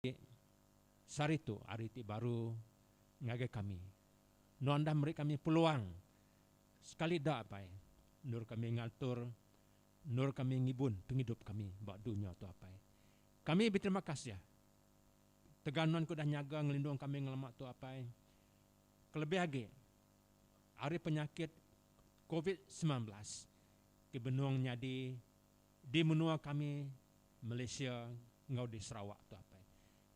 Enti sehari tu hari ti baru ngagai kami, nuan enda meri kami peluang sekali da apai endur kami ngaltur endur kami ngibun pengidup kami ba dunya tu apai. Kami beterima kasih tegal nuan ke udah nyaga ngelindung kami ngelama tu apai kelebih agi ari penyakit covid semilan belas ti benung nyadi di menua kami. Malaysia enggau di Sarawak tu apai.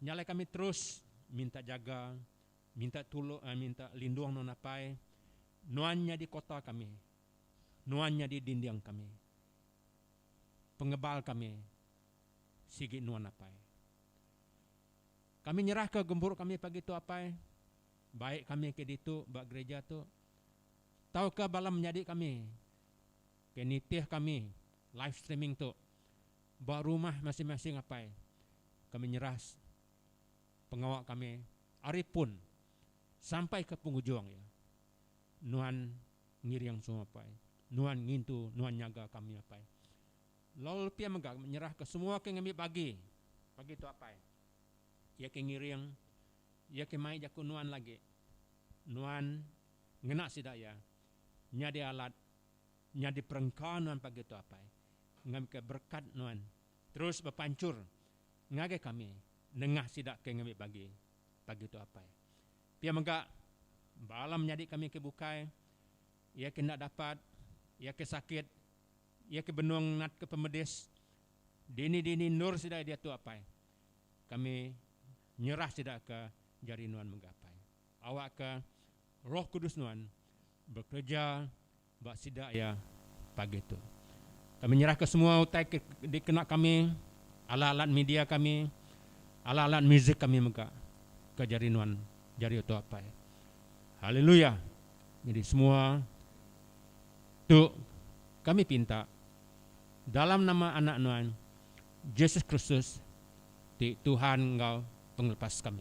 Nya alai kami terus minta jaga, minta tulung ai minta lindung nuan apai. Nuan nyadi kota kami. Nuan nyadi dinding kami. Pengebal kami sigi nuan apai. Kami nyerahka gempuru kami pagi tu apai, baik kami ke ditu ba gereja tu tauka bala menyadi kami Ke nitih kami live streaming tu ba rumah masing-masing apai, kami nyerah pengawa kami ari pun sampai ke pengujung iya. Nuan ngiring semua apai. Nuan ngintu, nuan nyaga kami apai. Lalu lepi iya mega kami nyerah ke semua ke ngambi bagi pagi tu apai. Iya ke ngiring, iya ke mai jaku nuan lagi. Nuan ngena sida iya nyadi alat nyadi perengka nuan pagi tu apai ngambika berekat nuan terus bepanchur ngagai kami nengah sida ke ngambi bagi pagi tu apai pia mega bala menyadi kami ke bukai iya ke enda dapat iya ke sakit iya ke benung natka pemedis dini dini endur sida diatu apai kami nyerah sida ke jari nuan mega apai. Awakka Roh Kudus Nuan bekereja ba sida iya pagi tu. Kami nyerahka semua utai ke dikena kami, alat-alat media kami, alat-alat muzik kami mega ke jari Nuan jari utuh apai. Haleluya! Nyadi semua tu kami pinta dalam nama Anak Nuan, Jesus Kristus ti Tuhan enggau Pengelepas kami.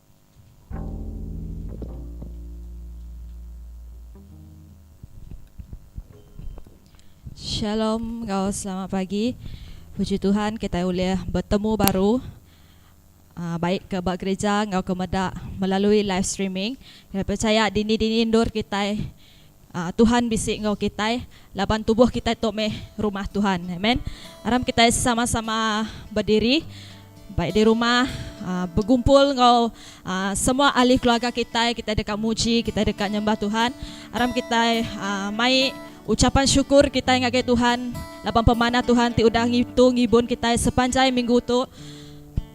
Shalom enggau selamat pagi. Puji Tuhan kitai ulih betemu baru baik ke ba gerija enggau ke meda melalui live streaming. Kitai pechaya dini-dini endur kitai Tuhan bisi enggau kitai laban tubuh kitai tu meh rumah Tuhan. Amen. Aram kitai sama-sama bediri bai di rumah begumpul enggau semua ahli keluarga kitai, kitai deka muji, kitai deka nyembah Tuhan. Aram kitai mai ucapan syukur kitai ngagai Tuhan laban pemanah Tuhan ti udah ngitu ngibun kitai sepanjai minggu tu.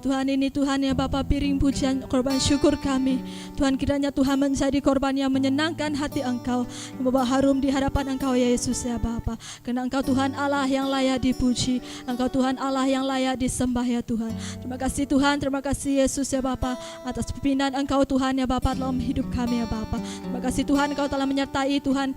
Tuhan ini Tuhan nya bapa piring pujian korban syukur kami Tuhan kiranya Tuhan menjadi korban yang menyenangkan hati Engkau yang membawa harum di hadapan Engkau ya Yesus ya Bapa karena Engkau Tuhan Allah yang layak dipuji Engkau Tuhan Allah yang layak disembah ya Tuhan terima kasih Tuhan terima kasih Yesus ya Bapa atas pimpinan Engkau Tuhan ya Bapa dalam hidup kami ya Bapa terima kasih Tuhan Engkau telah menyertai Tuhan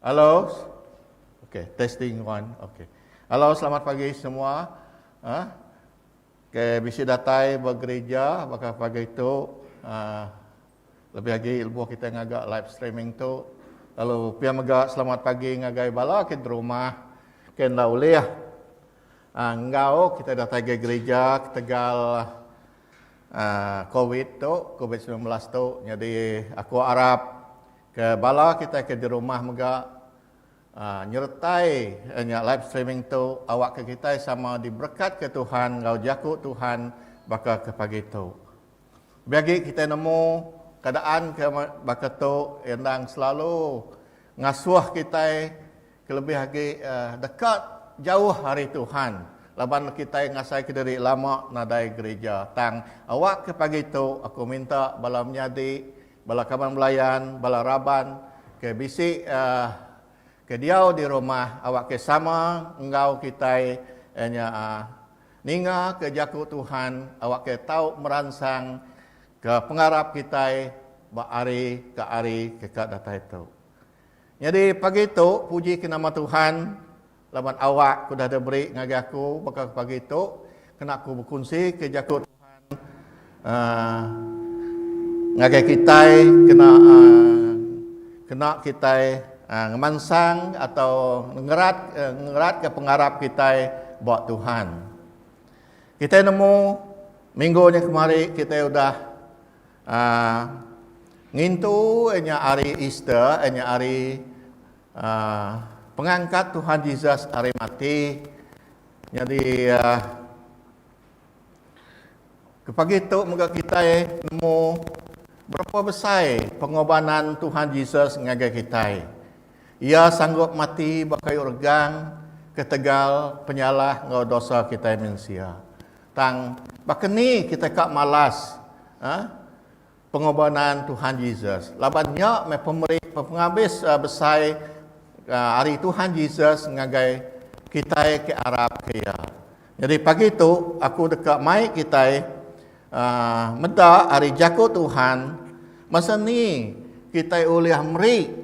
Hello, okay, testing one, okay. Hello, selamat pagi semua. Ha? Okay, bisi datai ba gereja baka pagi tu. Ha, lebih lagi lebuh kita ngaga live streaming tu. Lalu pia mega selamat pagi ngagai bala ke di rumah. Ke enda ulih. Ha, enggau kita datai ke gereja ketegal ha, COVID tu, COVID-19 tu. Jadi aku arap Ke bala kitai ke di rumah mega nyeretai nya live streaming tu awakka kitai sama diberekatka Tuhan enggau jaku Tuhan baka ke pagi tu. Lebih agi kitai nemu keadaan ke baka tu endang selalu ngasuh kitai. Kelebih agi deka jauh ari Tuhan laban kitai ngasaika diri lama nadai gerija. Tang, awakka pagi tu aku minta bala menyadi, bala kaban belayan, bala raban ke bisi ke diau di rumah awakka sama enggau kitai iya nya ningaka Jaku Tuhan awakka tau meransangka pengarap kitai ba ari ke ari ke ka datai tu. Nyadi pagi tu puji ke nama Tuhan laban awak ke udah diberi ngagai aku baka ke pagi tu kena aku bekunsi ke jaku Tuhan ngagai kitai kena kena kitai ngemansang atau ngerat ngerat ke pengarap kitai ba Tuhan. Kitai nemu minggu nya kemari kitai udah A Ngintu nya ari Easter, nya ari a pengangkat Tuhan Jesus ari mati. Nyadi a ke pagi tu mega kitai nemu berapa besai pengobanan Tuhan Jesus ngagai kitai. Iya sanggup mati ba kayu regang ketegal penyalah enggau dosa kitai mensia. Tang, baka ni kitai ka malas Pengorbanan Tuhan Jesus? Laban nya meh pemeri pengabis besai ari Tuhan Jesus ngagai kitai ke arap ke Iya. Nyadi pagi tu, aku deka mai kitai meda ari Jaku Tuhan basa ni kitai ulih meri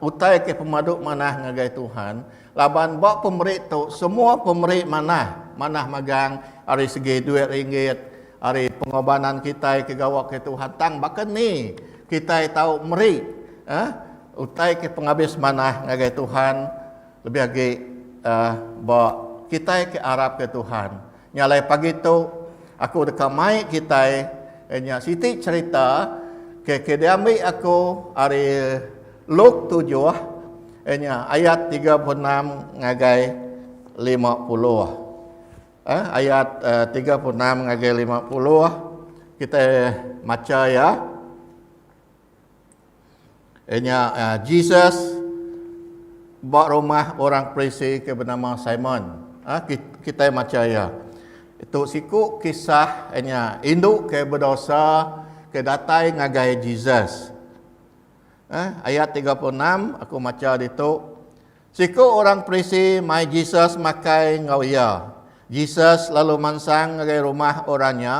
utai ke pemadu manah ngagai Tuhan. Laban ba pemeri tu semua pemeri manah, manah magang ari segi duit ringgit, ari pengorbanan kitai ke gawa ke Tuhan tang baka ni kitai tau meri eh utai ke pengabis manah ngagai Tuhan lebih agi eh ba kitai ke arapka Tuhan. Nya alai pagi tu aku deka mai kitai nya siti cherita ke diambi aku ari Luke tujuh nya ayat tiga puluh enam ngagai lima puluh. Eh ayat tiga puluh enam ngagai lima puluh kitai macha iya. Iya nya Jesus ba rumah orang Parisi ke benama Simon. Ha, kita macha iya. Itu siku kisah iya nya indu ke bedosa ke datai ngagai Jesus. Eh, ayat 36 aku macha ditu. Siku orang Parisi mai Jesus makai enggau iya. Jesus lalu mansang ngagai rumah orang nya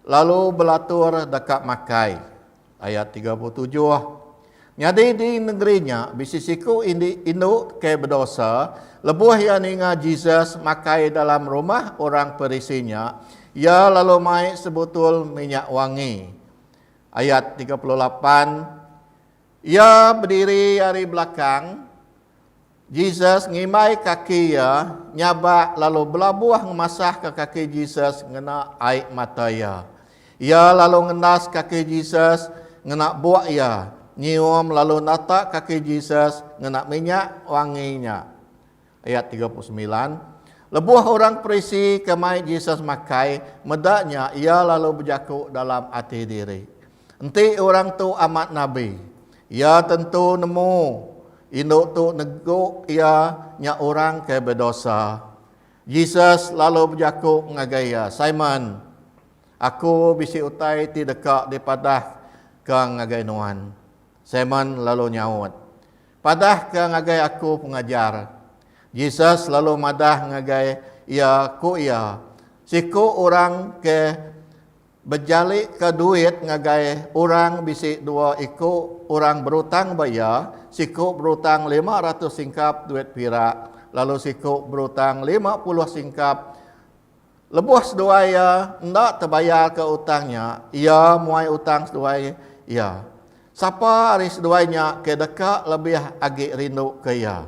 lalu belatur deka makai. Ayat tiga puluh tujuh. Nyadi di nengeri nya bisi siku indi indu ke bedosa, lebuh iya ninga Jesus makai dalam rumah orang Parisi nya, iya lalu mai sebutul minyak wangi. Ayat tiga puluh lapan. Iya bediri ari belakang. Jesus ngimbai kaki iya nyabak lalu belabuh ngemasahka kaki Jesus ngena ai mata iya. Iya lalu ngendas kaki Jesus ngena buk iya, nyium lalu nata kaki Jesus ngena minyak wangi nya. Ayat tiga puluh semilan. Lebuh orang Perisi ke mai Jesus makai meda nya iya lalu bejaku dalam ati diri, Enti orang tu amat nabi, iya tentu nemu indu tu negu iya nya orang ke bedosa. Jesus lalu bejaku ngagai iya, Simon, Aku bisi utai ti deka dipadahka ngagai nuan. Simon lalu nyaut, Padahka ngagai aku, Pengajar. Jesus lalu madah ngagai iya, ku iya, Siku orang ke. Bejalika duit ngagai orang bisi dua iku orang berutang ba iya, siku berutang lima ratus singkap duit pirak, lalu siku berutang lima puluh singkap. Lebuh seduai iya enda tebayarka utang nya, iya muai utang seduai iya. Sapa ari seduai nya ke deka lebih agi rinduka iya?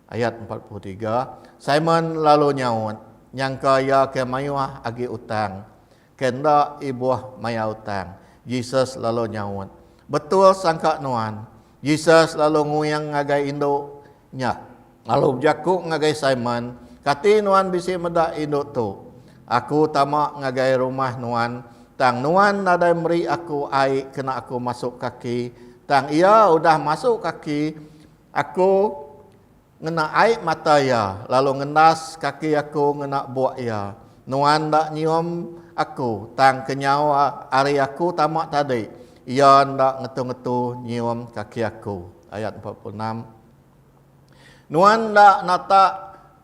Ayat empat puluh tiga, Simon lalu nyaut, nyangka iya ke mayuh agi utang, ke enda ibuh maya utang. Jesus lalu nyaut, Betul sangka nuan. Jesus lalu nguing ngagai indu nya, lalu bejaku ngagai Simon, Kati nuan bisi meda indu tu? Aku tama ngagai rumah nuan, tang nuan nadai meri aku ai kena aku masuk kaki, tang iya udah masuk kaki Aku ngena ai mata iya, lalu ngendas kaki aku ngena buk iya. Nuan enda nyium aku, tang kenyau ari aku tama tadi, iya enda ngetu-ngetu nyium kaki aku. Ayat empat puluh enam. Nuan enda natak.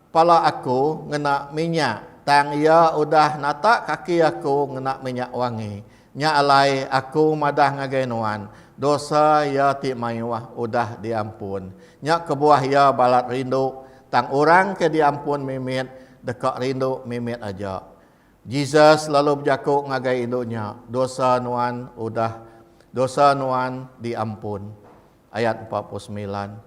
Pala aku ngena minyak, tang iya udah natak kaki aku ngena minyak wangi. Nya alai aku madah ngagai nuan, dosa iya ti mayuh udah diampun. Nya kebuah iya balat rindu, tang orang ke diampun mimit deka rindu mimit aja. Jesus lalu bejaku ngagai indu nya, Dosa nuan udah dosa nuan diampun. Ayat empat puluh semilan.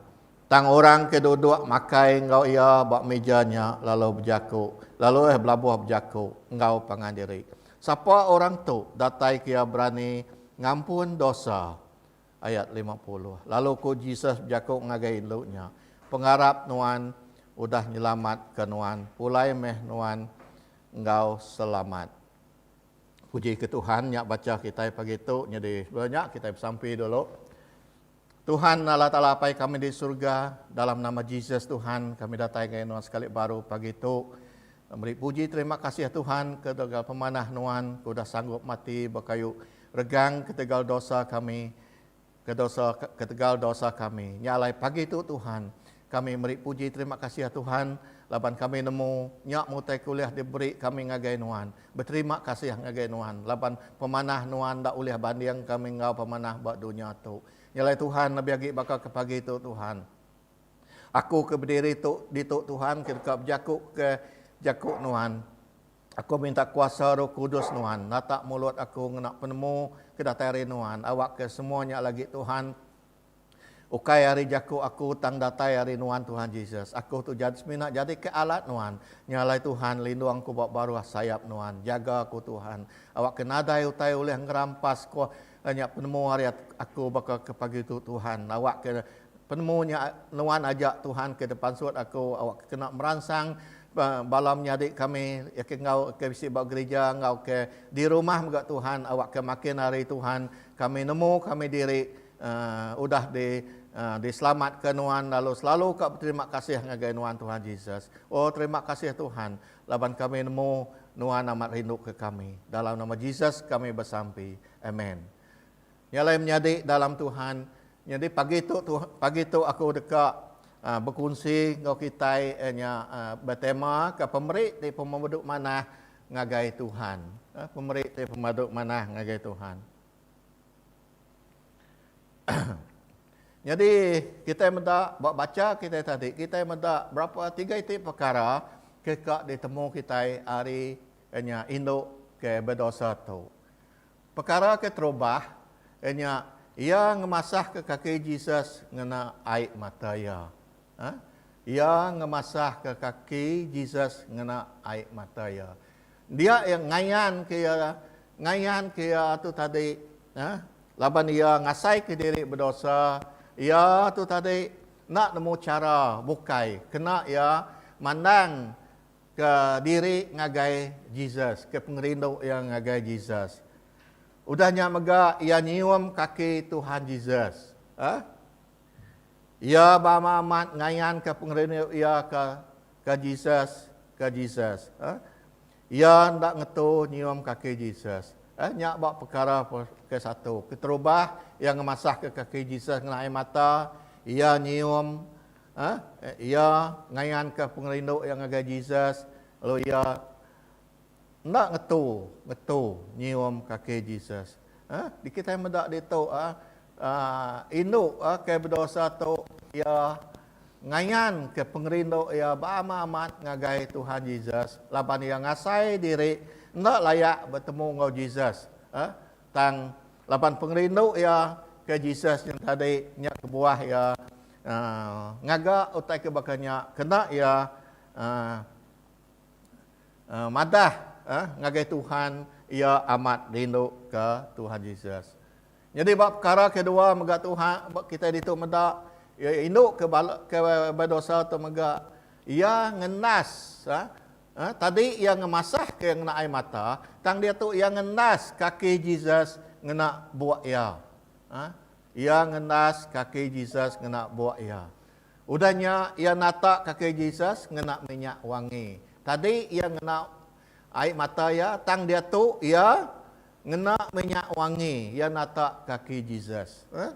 Tang orang ke duduk makai enggau iya ba mija nya lalu bejaku, lalu eh belabuh bejaku enggau pangan diri, Sapa orang tu dataika iya berani ngampun dosa? Ayat lima puluh. Lalu ku Jesus bejaku ngagai indu nya, Pengarap nuan udah nyelamatka nuan, pulai meh nuan enggau selamat. Puji ke Tuhan, nya baca kitai pagi tu nyadi. Sebelum nya kitai besampi dulu. Tuhan Allah Taala Apai kami di surga, dalam nama Jesus Tuhan kami datai enggau nuan sekali baru pagi tu. Meri puji terima kasih Tuhan ke tegal pemanah nuan ke udah sanggup mati bekayu regang ketegal dosa kami kedosa ketegal dosa kami. Nya alai pagi tu Tuhan, Kami meri puji terima kasih Tuhan laban kami nemu nya mutai ke ulih diberi kami ngagai nuan. Beterima kasih ngagai nuan laban pemanah nuan enda ulih banding kami enggau pemanah ba dunya tu. Nyelai Tuhan lebih agi baka ke pagi tu Tuhan. Aku ke bediri tu ditu Tuhan ke deka bejaku ke jaku nuan. Aku minta kuasa roh kudus nuan natak mulut aku ngena penemu ke datai ari nuan awak ke semua nya lagi Tuhan. Ukai ari jaku aku tang datai ari Nuan Tuhan Jesus. Aku tu jad semina jadi ke alat Nuan. Nya alai Tuhan lindung ku ba baruh sayap Nuan. Jaga aku Tuhan. Awak ke nadai utai ulih ngerampas ko nya penemu ari aku baka ke pagi tu Tuhan. Awak ke penemu nya Nuan aja Tuhan ke depansut aku awak ke kena meransang bala menyadi kami ke enggau ke bisi ba gerija enggau ke di rumah mega Tuhan awak ke makin ari Tuhan Kami nemu kami diri udah di diselamatka nuan lalu selalu ka beterima kasih ngagai nuan Tuhan Jesus. Oh terima kasih Tuhan laban kami nemu nuan amat rinduka kami. Dalam nama Jesus kami besampi. Amen. Nya alai menyadi dalam Tuhan. Nyadi pagi tu pagi tu aku deka bekunsi enggau kitai nya betema ke pemeri ti pemedu manah ngagai Tuhan. Eh, pemeri ti pemadu manah ngagai Tuhan. Nyadi kitai meda ba bacha kitai tadi, kitai meda berapa tiga iti pekara ke ka ditemu kitai ari nya indu ke bedosa tu. Pekara ke terubah iya nya iya ngemasahka kaki Jesus ngena ai mata iya. Ha? Iya ngemasahka kaki Jesus ngena ai mata iya. Dia iya ngayanka iya ngayanka iya tu tadi, ha? laban iya ngasaika diri bedosa, iya tu tadi enda nemu chara bukai kena iya mandang Ke diri ngagai Jesus, ke pengerindu iya ngagai Jesus. Udah nya mega iya nyium kaki Tuhan Jesus. Huh? Iya bama amat ngayanka pengerindu iya ke ke Jesus, ke Jesus. Huh? Iya enda ngetu nyium kaki Jesus. Huh? Nya ba pekara ke satu. Keterubah iya ngemasahka kaki Jesus ngena ai mata, iya nyium Iya ngayanka pengerindu iya ngagai Jesus lalu iya enda ngetu ngetu nyium kaki Jesus. Di kitai meda ditu indu ke bedosa tu iya ngayanka pengerindu iya ba amat amat ngagai Tuhan Jesus laban iya ngasai diri enda layak betemu enggau Jesus tang laban pengerindu iya ke Jesus nyentadi nya kebuah iya ngaga utai ke baka nya kena iya madah ngagai Tuhan, iya amat rinduka Tuhan Jesus. Nyadi ba pekara ke dua mega Tuhan ba kitai ditu meda iya rinduka bala ke bedosa tu mega iya ngendas tadi iya ngemasahka ngena ai mata tang diatu iya ngendas kaki Jesus ngena buk iya. Iya ngendas kaki Jesus ngena buk iya. Udah nya, iya natak kaki Jesus ngena minyak wangi. Tadi iya ngena ai mata iya, tang diatu iya ngena minyak wangi iya natak kaki Jesus. Eh?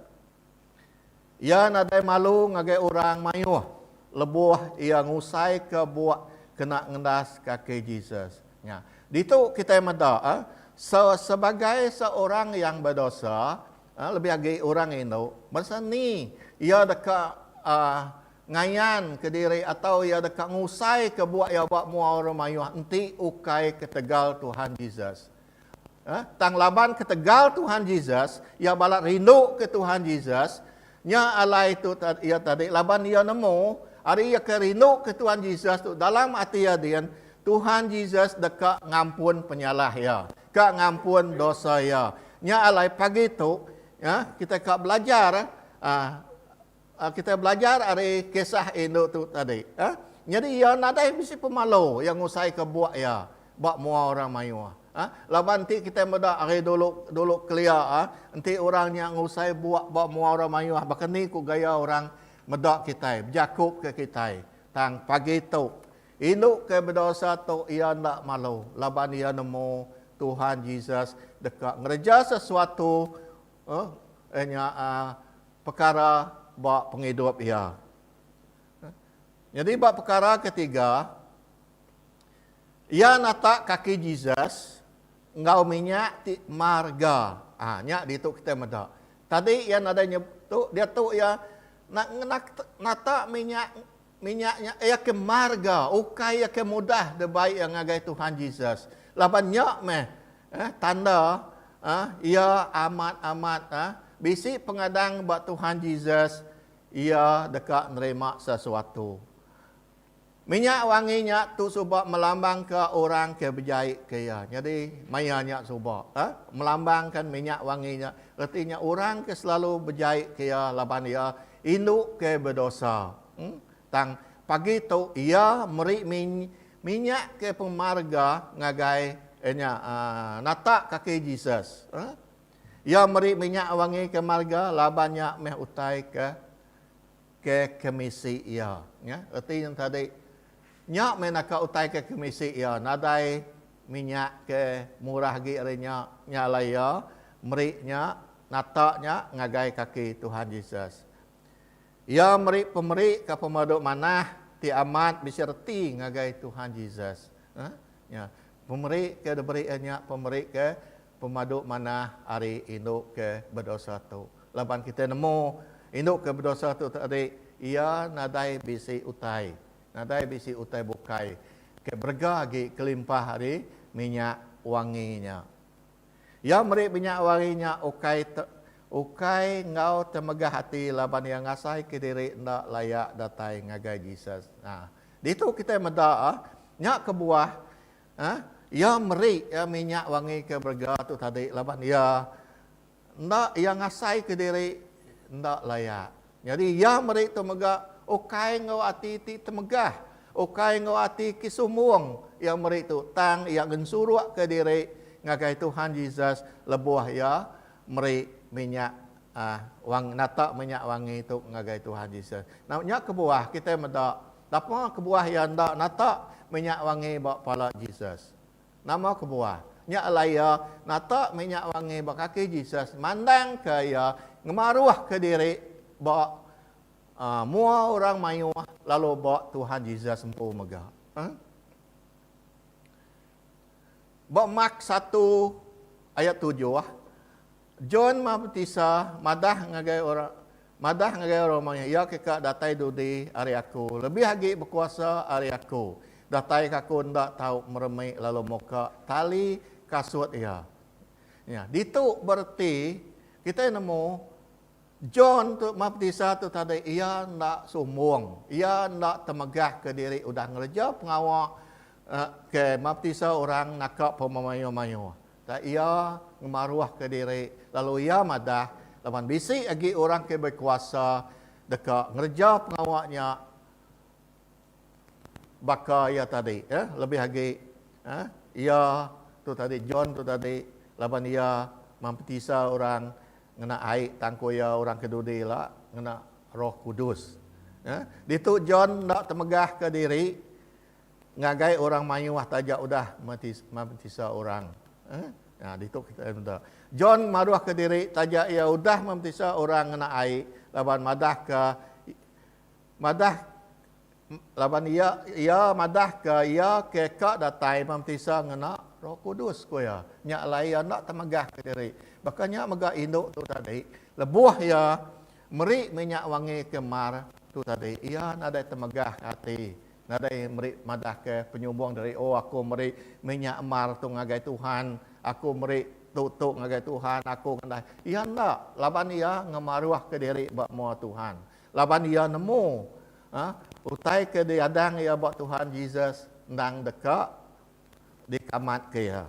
Iya nadai malu ngagai orang mayuh lebuh iya ngusaika buk kena ngendas kaki Jesus. Nya, ditu kitai meda, eh, sebagai seorang yang bedosa, Lebih agi orang indu, bansa ni iya deka ngayanka diri atau iya deka ngusaika buah iya ba mua orang mayuh enti ukai ketegal Tuhan Jesus. Tang laban ketegal Tuhan Jesus, iya balat rinduka Tuhan Jesus. Nya alai tu iya tadi laban iya nemu ari iya ke rinduka Tuhan Jesus tu dalam ati iya din, Tuhan Jesus deka ngampun penyalah iya. Ka ngampun dosa iya. Nya alai pagi tu kita ka belajar kita belajar ari kisah indu tu tadi. Nyadi iya nadai bisi pemalu iya ngusaika buak iya ba mua orang mayuh. Laban enti kita meda ari dulu dulu kelia enti orang nya ngusai buak ba mua orang mayuh baka ni ku gaya orang meda kitai bejaku ka kitai tang pagi tu Indu ke bedosa tu iya enda malu laban iya nemu Tuhan Jesus deka ngereja sesuatu iya nya pekara ba pengidup iya. Nyadi ba pekara ketiga, iya natak kaki Jesus enggau minyak ti marga. Aa nya ditu kitai meda. Tadi iya nadai nyebut, diatu iya natak minyak. Minyak nya iya ke marga ukai iya ke mudah dibai iya ngagai Tuhan Jesus. Laban nya meh eh tanda eh iya amat amat eh bisi pengadang ba Tuhan Jesus iya deka nerima sesuatu. Minyak wangi nya tu suba melambangka orang ke bejai ke iya. Nyadi maya nya suba eh melambangkan minyak wangi nya reti nya orang ke selalu bejai ke iya laban iya Indu ke bedosa. Tang, pagi tu iya meri minyak ke pemarga ngagai nya nata kaki Jesus. Iya meri minyak wangi ke marga laban nya meh utai ke ke kemisi iya. Reti nya tadi. Nya meh naka utai ke kemisi iya nadai minyak ke murah agi ari nya, nya alai iya meri nya nata nya ngagai kaki Tuhan Jesus. Iya meri pemeri ke pemadu manah ti amat bisi reti ngagai Tuhan Jesus. Hah? Nya, pemeri ke diberi iya nya pemeri ke pemadu manah ari indu ke bedosa tu. Laban kitai nemu indu ke bedosa tu tadi iya nadai bisi utai Nadai bisi utai bukai ke berega agi kelimpah ari minyak wangi nya. Iya meri minyak wangi nya ukai te, ukai enggau temegah ati laban iya ngasaika diri enda layak datai ngagai Jesus. Ha. Ditu kitai meda ah, nya kebuah ah, iya meri minyak wangi ke berega tu tadi laban iya Enda iya ngasaika diri enda layak. Nyadi iya meri tu mega ukai enggau ati ti temegah, ukai enggau ati ke sumbung iya meri tu tang iya gensurukka diri ngagai Tuhan Jesus lebuh iya meri minyak wangi nata minyak wangi tu ngagai Tuhan Jesus. Nya kebuah kitai meda dapa kebuah iya enda nata minyak wangi ba pala Jesus. Nama kebuah? Nya alai iya nata meh nya wangi ba kaki Jesus mandangka iya ngemaruhka diri ba mua orang mayuh lalu ba Tuhan Jesus empu mega. Ba Mark satu ayat tujuh, John Mabtisa madah ngagai orang madah ngagai orang rumah iya, Iya keka datai dudi ari aku, lebih agi bekuasa ari aku, datai ke aku enda tau meremi lalu muka tali kasut iya. Nya, ditu bereti kitai nemu John tu Mabtisa tu tadi iya enda sumbung, iya enda temegah ke diri udah ngereja pengawa ke mabtisa orang naka pemamayuh-mayuh. Tang iya ngemaruhka diri lalu iya madah, Laban bisi agi orang ke bekuasa deka ngereja pengawa nya baka iya tadi, lebih agi iya tu tadi, John tu tadi, laban iya mampetisa orang ngena ai tang ku iya orang ke dudi ila ngena Roh Kudus. Ditu John enda temegahka diri. ngagai orang mayuh taja udah maptisa orang. Nah, ditu kita meda. John maruhka diri taja iya udah maptisa orang ngena ai laban madahka madah laban iya iya madahka iya ke ka datai maptisa ngena Roh Kudus, ku iya. Nya alai iya enda temegahka diri. Baka nya mega indu tu tadi, lebuh iya meri minyak wangi ke mar tu tadi, iya nadai temegah ati Nadai meri madah ke penyumbung dari oh aku meri minyak emar tu ngagai Tuhan, aku meri tu tu ngagai Tuhan, aku ngendah. Iya enda, laban iya ngemaruhka diri ba mua Tuhan. Laban iya nemu uhh utai ke diadang iya ba Tuhan Jesus endang deka dikamatka iya.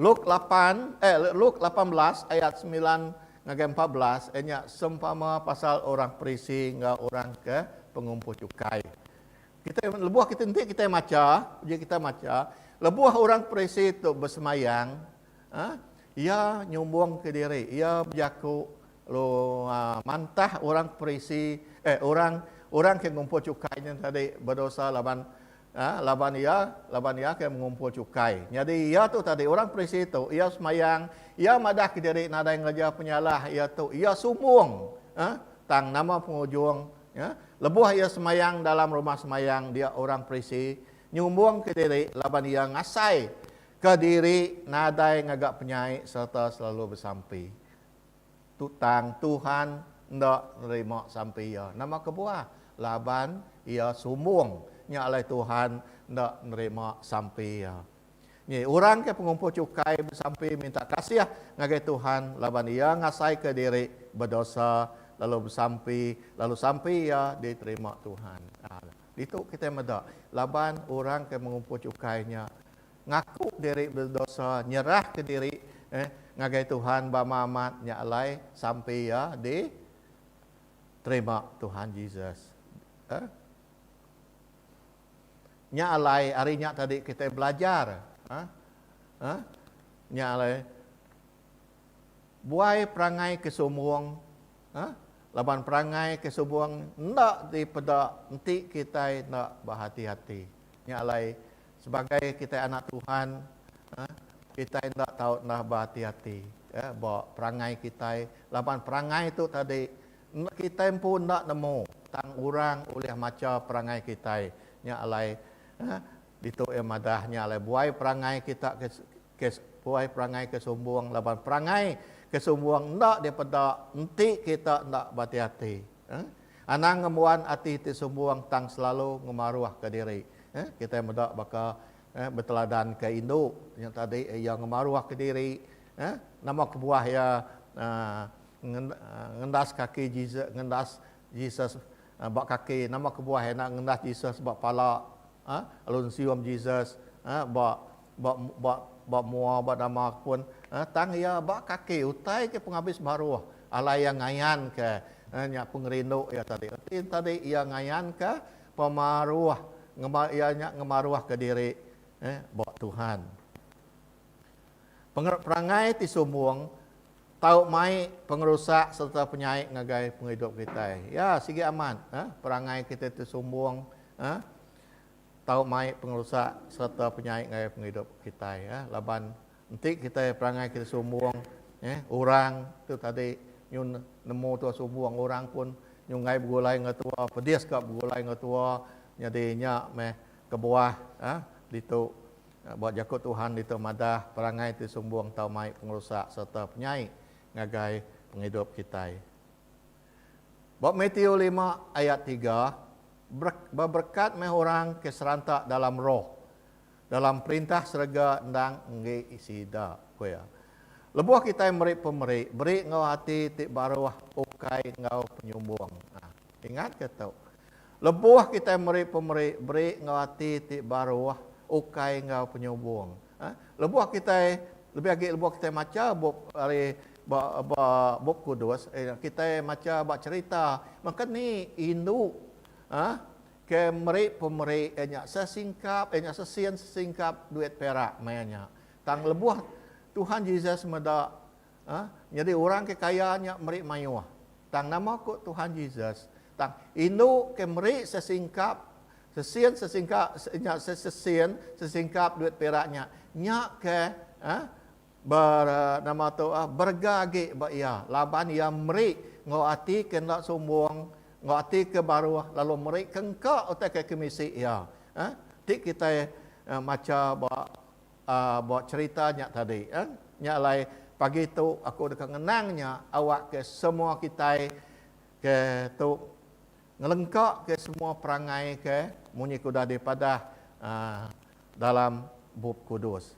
Luk lapan, eh, Luk lapan belas ayat semilan ngagai empat belas, eh, nya sempama pasal orang Perisi enggau orang ke pengumpuh chukai. Kita, lebuh kita enti kita macha, uji kita macha, lebuh orang Perisi tu besemayang, ha, iya nyumbungka diri, iya bejaku, lu, ha, mantah orang Perisi, eh, orang orang ke ngumpuh chukai nya tadi bedosa laban A laban iya laban iya ke mengumpul chukai. Nyadi iya tu tadi orang Prisi tu iya semayang iya madah ke diri nadai ngereja penyalah iya tu iya sumbung a tang nama pengujung a lebuh iya semayang dalam rumah semayang dia orang Prisi nyumbung ke diri laban iya ngasai ke diri nadai ngaga penyai sereta selalu besampi. Tutang Tuhan enda nerima sampi iya. Nama kebuah? Laban iya sumbung. Nya alai Tuhan enda nerima sampi iya. Nyi orang ke pengumpul chukai besampi minta kasih ngagai Tuhan laban iya ngasaika diri bedosa lalu besampi lalu sampi iya diterima Tuhan. Ditu kitai meda laban orang ke mengumpul chukai nya Ngaku diri bedosa, nyerah ke diri eh ngagai Tuhan bama amat nya alai sampi iya di terima Tuhan Jesus eh. Nya alai ari nya tadi kitai belajar eh eh nya alai. Buai perangai ke sumbung ha laban perangai ke sumbung enda dipeda enti kitai enda behati-hati. Nya alai sebagai kitai anak Tuhan ha kitai enda tau enda behati-hati ya ba perangai kitai laban perangai tu tadi kitai empu enda nemu tang orang ulih macha perangai kitai. Nya alai ha ditu iya madah nya alai buai perangai kita ke Kes puai perangai ke sumbung laban perangai ke sumbung enda dipeda enti kita enda beati-ati. Anang ngembuan ati ti sumbung tang selalu ngemaruhka diri. Kitai meda baka beteladanka indu nya tadi iya ngemaruhka diri nama kebuah iya ngendas kaki Jesus ngendas Jesus ba kaki nama kebuah iya enda ngendas Jesus ba pala lalu nesium Jesus ba Ba, ba, ba mua ba nama aku pun, eh, tang iya ba kaki utai ke pengabis baruh, alai iya ngayanka, eh, nya pengerindu iya tadi. Reti tadi iya ngayanka pemaruh, ngema, iya nya ngemaruhka diri, eh, ba Tuhan. Pengeret perangai ti sumbung tau mai pengerusak sereta penyai ngagai pengidup kitai. Ya, sigi amat, eh, perangai kita ti sumbung, eh, tau mai pengerusak sereta penyai ngagai pengidup kitai ya laban enti kitai perangai kitai sumbung ya orang tu tadi nyun nemu tua sumbung orang pun nyunggai begulai enggau tua pedis ka begulai enggau tua nyadi nya meh kebuah ya ditu ba jaku Tuhan ditu madah perangai ti sumbung tau mai pengerusak sereta penyai ngagai pengidup kitai. Ba Matiu lima ayat tiga, Beberkat meh orang ke seranta dalam Roh, dalam Perintah serega endang enggi sida, ku iya. Lebuh kitai meri pemeri, beri enggau ati ti baruh ukai enggau penyumbung. Nah, ingatka tu. Lebuh kitai meri pemeri, beri enggau ati ti baruh ukai enggau penyumbung. Lebuh kitai, lebih agi lebuh kitai macha bup ari ba ba Bup Kudus, kitai macha ba cherita maka ni indu ke meri pemeri iya nya sesingkap, iya nya sesin sesingkap duit perak maya nya. Tang lebuh Tuhan Jesus meda. A. Nyadi orang ke kaya nya meri mayuh. Tang nama ku Tuhan Jesus? Tang indu ke meri sesingkap sesin sesingka nya sesin sesingkap duit perak nya, nya ke a ber nama tu a berega agi ba iya laban iya meri enggau ati ke enda sumbung, enggau ati ke baruh lalu meri ke engka utai ke kemisi iya. A. Ti kitai macha ba Ba cherita nya tadi, nya alai pagi tu aku deka ngenang nya awakka semua kitai ke tu ngelengkaka semua perangai ke munyi ke udah dipadah dalam Bup Kudus.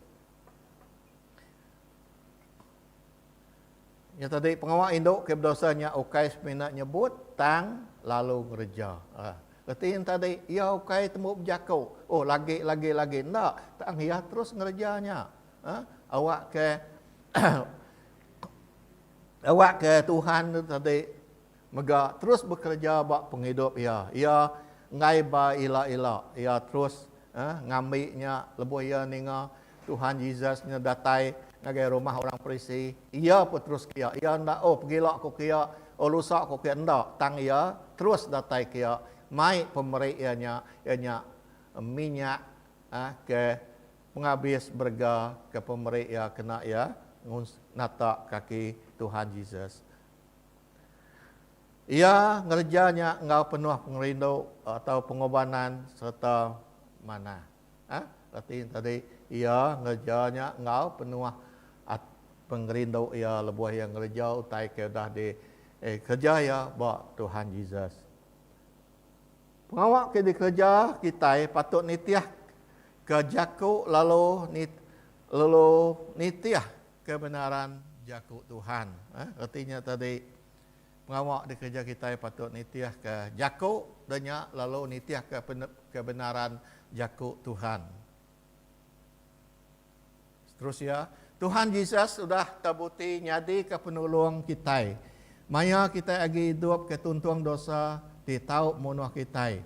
Nya tadi pengawa indu ke bedosa nya ukai semina nyebut tang lalu ngereja. Aa. Reti nya tadi iya ukai tembu bejaku, oh lagi lagi lagi enda tang iya terus ngereja nya. Aa. Awakka awakka Tuhan tu tadi. Mega terus bekereja ba pengidup iya. Iya enggai ba ila-ila. Iya terus ngambi nya lebuh iya ninga Tuhan Jesus nya datai ngagai rumah orang Parisi. Iya pun terus ke iya. Iya enda, oh pegila ku ke iya, oh lusa ku ke iya, enda. Tang iya terus datai ke iya, mai pemeri iya nya, iya nya minyak ke pengabis berega ke pemeri iya kena iya ngunsa, nata kaki Tuhan Jesus. Iya ngereja nya enggau penuh pengerindu atau pengorbanan sereta manah. Ha, reti enti tadi, iya ngereja nya enggau penuh pengerindu iya lebuh iya ngereja utai ke udah dikereja iya ba Tuhan Jesus. Pengawa ke dikereja kitai patut nitihka jaku lalu nitih Kebenaran Jaku Tuhan. Reti nya tadi, pengawa dikereja kitai patut nitihka Jaku da nya lalu nitihka kebenaran Jaku Tuhan. Terus iya, Tuhan Jesus udah tebuti nyadika Penulung kitai maya kitai agi idup ke tuntung dosa ti tau munuh kitai.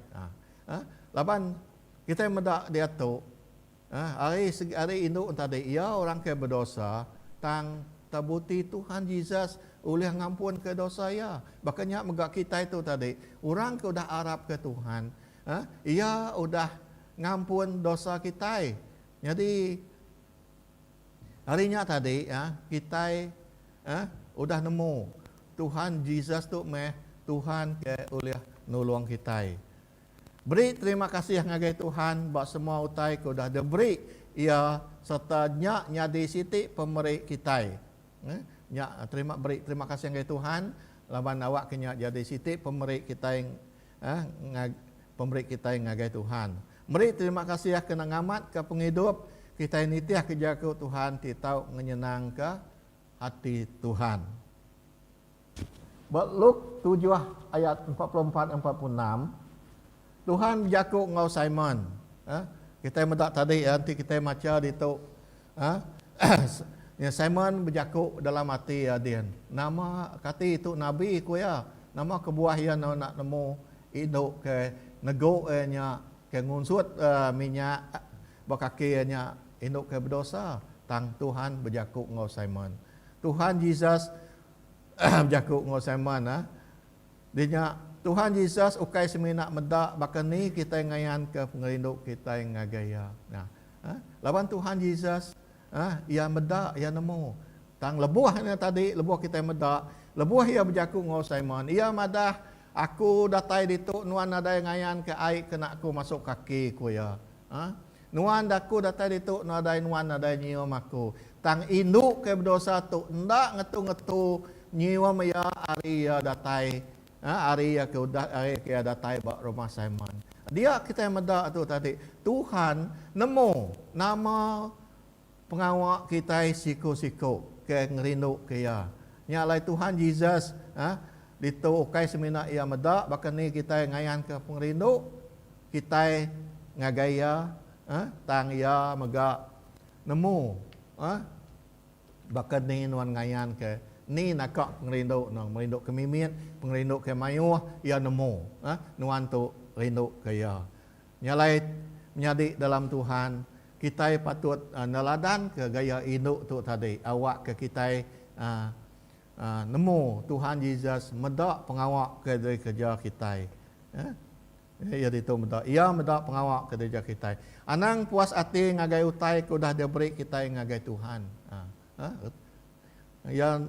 Laban kitai meda diatu, Nah, ari segi ari indu entadi iya orang ke bedosa, tang tebuti Tuhan Jesus ulih ngampunka dosa iya. Baka nya mega kitai tu tadi, orang ke udah arapka Tuhan, eh, iya udah ngampun dosa kitai. Nyadi ari nya tadi, eh, kitai, eh, udah nemu Tuhan Jesus tu meh Tuhan ke ulih nulung kitai. Beri terima kasih ngagai Tuhan ba semua utai ke udah diberi Iya sereta nya nyadi siti pemeri kitai. Eh, nya terima beri terima kasih ngagai Tuhan laban awakka nya jadi siti pemeri kitai eh, ngag, pemeri kitai ngagai Tuhan. Meri terima kasih kena ngamatka pengidup kitai nitih ke jaku Tuhan ti tau ngenyenangka hati Tuhan. Ba Luke tujuh ayat empat puluh empat enggau empat puluh enam, Tuhan bejaku enggau Simon, kitai meda tadi enti kitai macha ditu, Simon bejaku dalam ati iya din, Nama kati tu nabi? ku iya. Nama kebuah iya enda enda nemu indu ke negu iya nya, ke ngunsut minyak ba kaki iya nya indu ke bedosa? Tang Tuhan bejaku enggau Simon. Tuhan Jesus bejaku enggau Simon, Di nya, Tuhan Jesus ukai semina meda baka ni kitai ngayanka pengerindu kitai ngagai Iya. Laban Tuhan Jesus, iya meda, iya nemu. Tang lebuh nya tadi, lebuh kitai meda, lebuh iya bejaku enggau Simon, iya madah, Aku datai ditu, nuan nadai ngayanka ai kena Aku masuk kaki, ku iya. Nuan da aku datai ditu nadai nuan nadai nyium aku. Tang indu ke bedosa tu enda ngetu-ngetu nyium iya ari iya datai ari iya ke udah ari ke iya datai ba rumah Simon. Dia kitai meda tu tadi, Tuhan nemu nama pengawa kitai siku-siku ke ngerinduka iya. Nya alai Tuhan Jesus ditu ukai semina iya meda baka ni kitai ngayanka pengerindu. Kitai ngagai iya eh tang iya mega nemu eh baka ni nuan ngayan ke ni naka pengerindu nuan merindu ke mimit pengerindu ke maioh iya nemu eh nuan tu rindu ke iya. Nya alai menyadi dalam Tuhan kitai patut eh neladan ke gaya indu tu tadi awak ke kitai eh eh nemu Tuhan Jesus meda pengawa ke diri kereja kitai eh. Iya ditu meda iya meda pengawa ke dieja kitai. Anang puas ati ngagai utai ke udah diaberi kitai ngagai Tuhan. Iya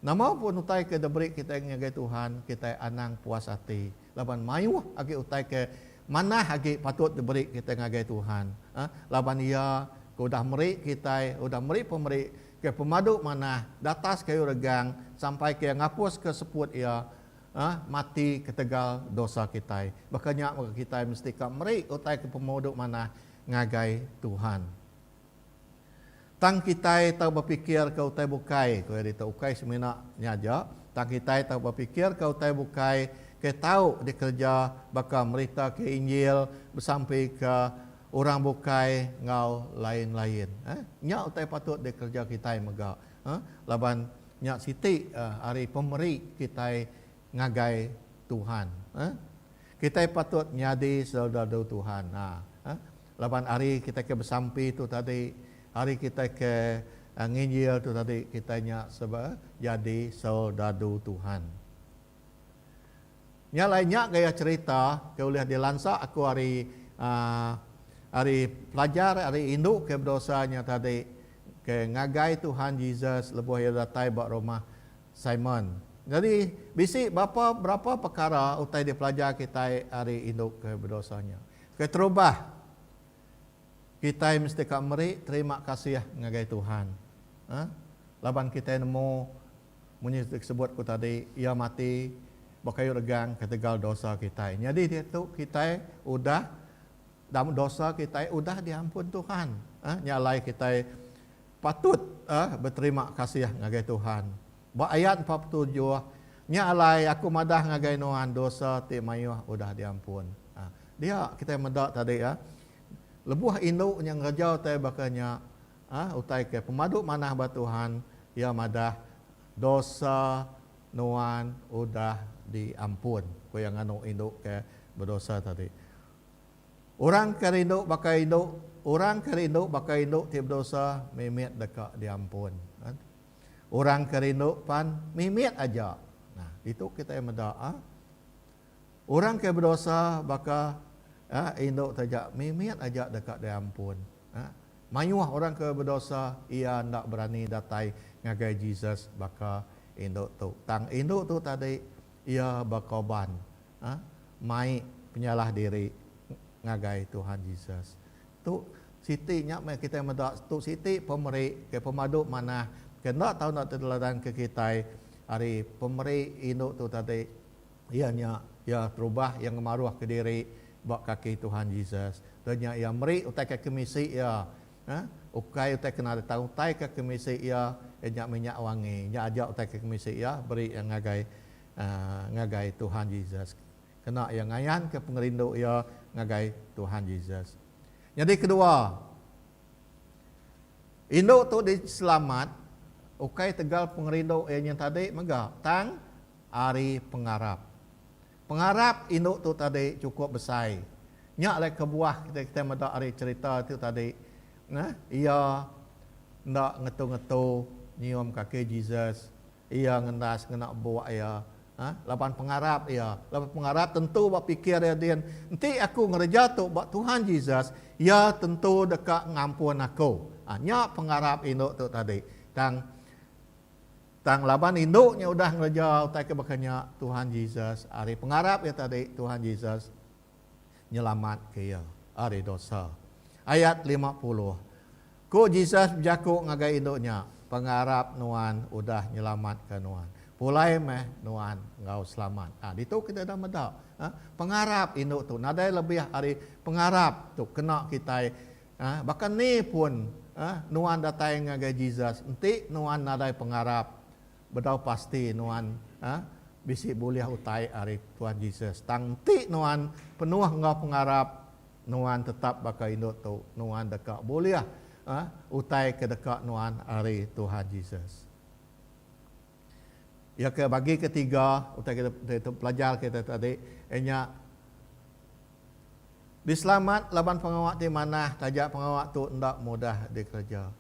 nama pun utai ke diaberi kitai ngagai Tuhan, kitai anang puas ati laban mayuh agi utai ke manah agi patut diberi kitai ngagai Tuhan. Laban Iya ke udah meri kitai, udah meri pemeri ke pemadu manah, datas kayu regang, sampai ke Iya ngapuska seput Iya mati ketegal dosa kitai. Baka nya mega kitai mesti ka meri utai ke pemudu manah ngagai Tuhan. Tang kitai tau bepikirka utai bukai, ku iya ditu. Ukai semina nya aja, tang kitai tau bepikirka utai bukai ke tau dikereja baka meritaka Injil, besampika orang bukai enggau lain-lain. Nya utai patut dikereja kitai mega. laban nya siti ari pemeri kitai ngagai Tuhan. Kitai patut nyadi selderadu Tuhan laban ari kitai ke besampi tu tadi, ari kitai ke nginjil tu tadi kitai nya jadi selderadu Tuhan. Nya alai nya gaya cherita ke ulih dilansa aku ari ari pelajar ari indu ke bedosa nya tadi ke ngagai Tuhan Jesus lebuh iya datai ba rumah Simon. Nyadi bisi bapa berapa pekara utai dipelajar kitai ari indu ke bedosa nya. Keterubah, kitai mesti ka meri terima kasih ngagai Tuhan. Laban kitai nemu. Munyi ti sebut ku tadi, Iya mati ba kayu regang ketegal dosa kitai. Nyadi diatu kitai udah dam dosa kitai udah diampun Tuhan. Eh, nya alai kitai patut eh beterima kasih ngagai Tuhan. Ba ayat empat puluh tujuh, Nya alai aku madah ngagai nuan dosa ti mayuh udah diampun. Eh, dia kitai meda tadi eh, lebuh indu nya ngereja utai baka nya, A Utai ke pemadu manah ba Tuhan, iya madah, Dosa nuan udah diampun, ku iya nganu indu ke bedosa tadi. Orang ke rindu baka indu orang ke rindu baka indu ti bedosa mimit deka diampun. Orang ke rindu pan mimit aja. Nah, ditu kitai meda. A. Orang ke bedosa baka indu taja mimit aja deka diampun. Mayuh orang ke bedosa iya enda berani datai ngagai Jesus baka indu tu. Tang indu tu tadi iya bekorban mai penyalah diri ngagai Tuhan Jesus. Tu siti nya meh kitai meda tu siti pemeri ke pemadu manah ke enda tau ditereladanka kitai ari pemeri indu tu tadi Iya nya, iya terubah iya ngemaruhka diri ba kaki Tuhan Jesus. Udah nya iya meri utai ke kemisi iya. Nah, ukai utai ke nadai tang utai ke kemisi iya, iya nya minyak wangi. Nya aja utai ke kemisi iya beri iya ngagai ngagai Tuhan Jesus. Kena iya ngayanka pengerindu iya ngagai Tuhan Jesus. Nyadi kedua, indu tu diselamat ukai tegal pengerindu iya nyentadi mega, tang ari pengarap. Pengarap indu tu tadi chukup besai. Nya alai kebuah kitai kitai meda ari cherita tu tadi neh iya enda ngetu-ngetu nyium kaki Jesus, iya ngendas ngena buk iya ha laban pengarap iya. Laban pengarap tentu ba pikir iya din, enti aku ngereja tu ba Tuhan Jesus, iya tentu deka ngampun aku. Ha nya pengarap indu tu tadi. Tang. Tang laban indu nya udah ngereja utai ke baka nya, Tuhan Jesus, ari pengarap iya tadi, Tuhan Jesus nyelamatka iya ari dosa. Ayat lima puluh. Ku Jesus bejaku ngagai indu nya, Pengarap nuan udah nyelamatka nuan. Pulai meh nuan enggau selamat. Ha, ditu kitai udah meda, ha, pengarap indu tu nadai lebih ari pengarap tu kena kitai Ah, baka ni pun, ah, nuan datai ngagai Jesus, enti nuan nadai pengarap, bedau pasti nuan, ah, bisi bulih utai ari Tuan Jesus. Tang enti nuan penuh enggau pengarap, nuan tetap baka indu tu, nuan deka bulih, ah, utai ke deka nuan ari Tuhan Jesus. Iya ke bagi ke tiga utai kita pelajar kita tadi iya nya diselamat laban pengawa ti manah taja pengawa tu enda mudah dikereja.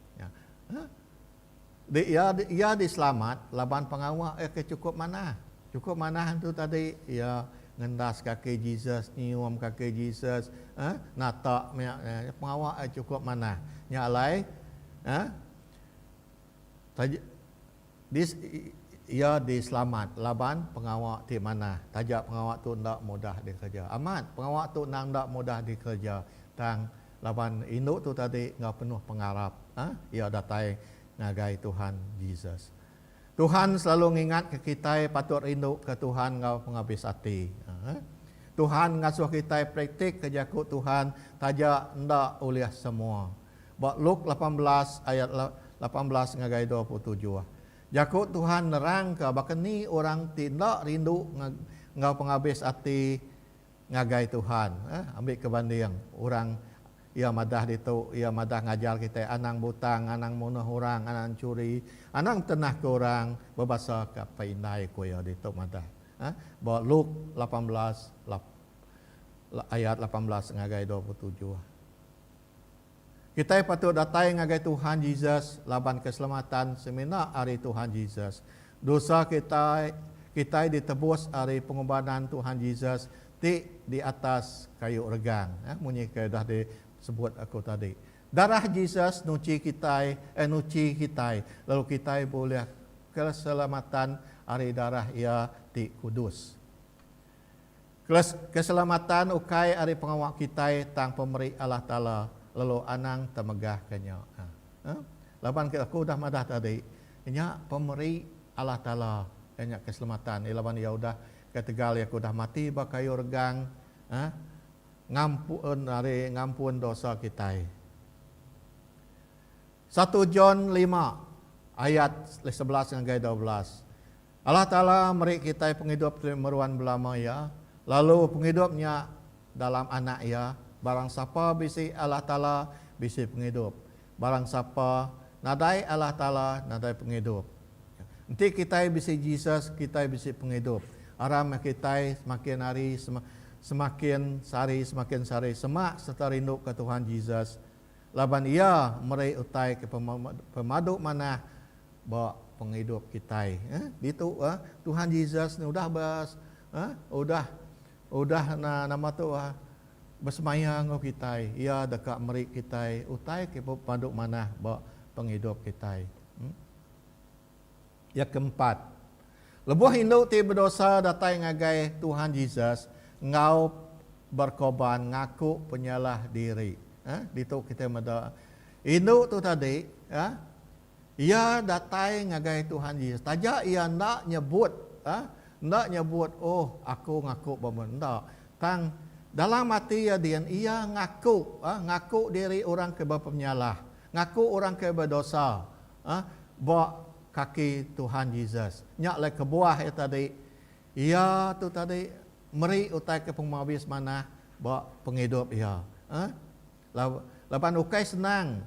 Dik iya iya diselamat laban pengawa iya ke chukup manah. Chukup manah tu tadi iya ngendas kaki Jesus, nyium kaki Jesus, eh natak meh pengawa iya chukup manah. Nya alai eh Taja di iya diselamat laban pengawa ti manah. Taja pengawa tu enda mudah dikereja. Amat pengawa tu endang enda mudah dikereja tang laban indu tu tadi enggau penuh pengarap iya datai ngagai Tuhan Jesus. Tuhan selalu ngingatka kitai patut rinduka Tuhan enggau pengabis ati. Tuhan ngasuh kitai praktikka jaku Tuhan taja enda ulih semua. Ba Luke lapan belas ayat lapan belas ngagai dua puluh tujuh, jaku Tuhan nerangka baka ni orang ti enda rindu enggau pengabis ati ngagai Tuhan. Ambi ke banding, orang iya madah ditu iya madah ngajar kitai anang butang, anang munuh orang, anang enchuri, anang tenahka orang, bebasa ke apai indai ku iya ditu madah. Ba Luke lapan belas ayat lapan belas ngagai dua puluh tujuh. Kitai patut datai ngagai Tuhan Jesus laban keselamatan semina ari Tuhan Jesus. Dosa kitai kitai ditebus ari pengorbanan Tuhan Jesus ti di atas kayu regang, eh, munyi ke dah disebut aku tadi. Darah Jesus nuchi kitai, eh, nuchi kitai, lalu kitai bulih keselamatan ari darah Iya ti kudus. Kelas keselamatan ukai ari pengawa kitai tang pemeri Allah Taala lalu anang temegah ke nya. Aa. Laban ke aku udah madah tadi, nya pemeri Allah Taala iya nya keselamatan iya laban iya udah ketegal iya ke udah mati ba kayu regang aa ngampun ari ngampun dosa kitai. Satu John lima ayat sebelas ngagai dua belas Allah Taala meri kitai pengidup ti meruan belama Iya, lalu pengidup nya dalam Anak Iya. Barang sapa bisi Allah Taala, bisi pengidup. Barang sapa nadai Allah Taala, nadai pengidup. Enti kitai bisi Jesus, kitai bisi pengidup. Aram meh kitai semakin hari semakin sehari semakin sehari semak sereta rinduka Tuhan Jesus Laban iya meri utai ke pemadu manah ba pengidup kitai. Ditu Tuhan Jesus ne udah be udah udah nama tu besemaya enggau kitai. Iya deka meri kitai utai ke pemadu manah ba pengidup kitai. Iya ke empat, lebuh indu ti bedosa datai ngagai Tuhan Jesus enggau berkorban ngaku penyalah diri. Ha, ditu kitai meda indu tu tadi, ha, iya datai ngagai Tuhan Jesus taja iya enda nyebut, ha, enda nyebut oh aku ngaku bebendar enda, tang dalam ati iya din iya ngaku, ha, ngaku diri orang ke bepenyalah, ngaku orang ke bedosa, ah ba kaki Tuhan Jesus. Nya alai kebuah iya tadi, iya tu tadi meri utai ke pengmabis manah ba pengidup iya. Ah lalu laban ukai senang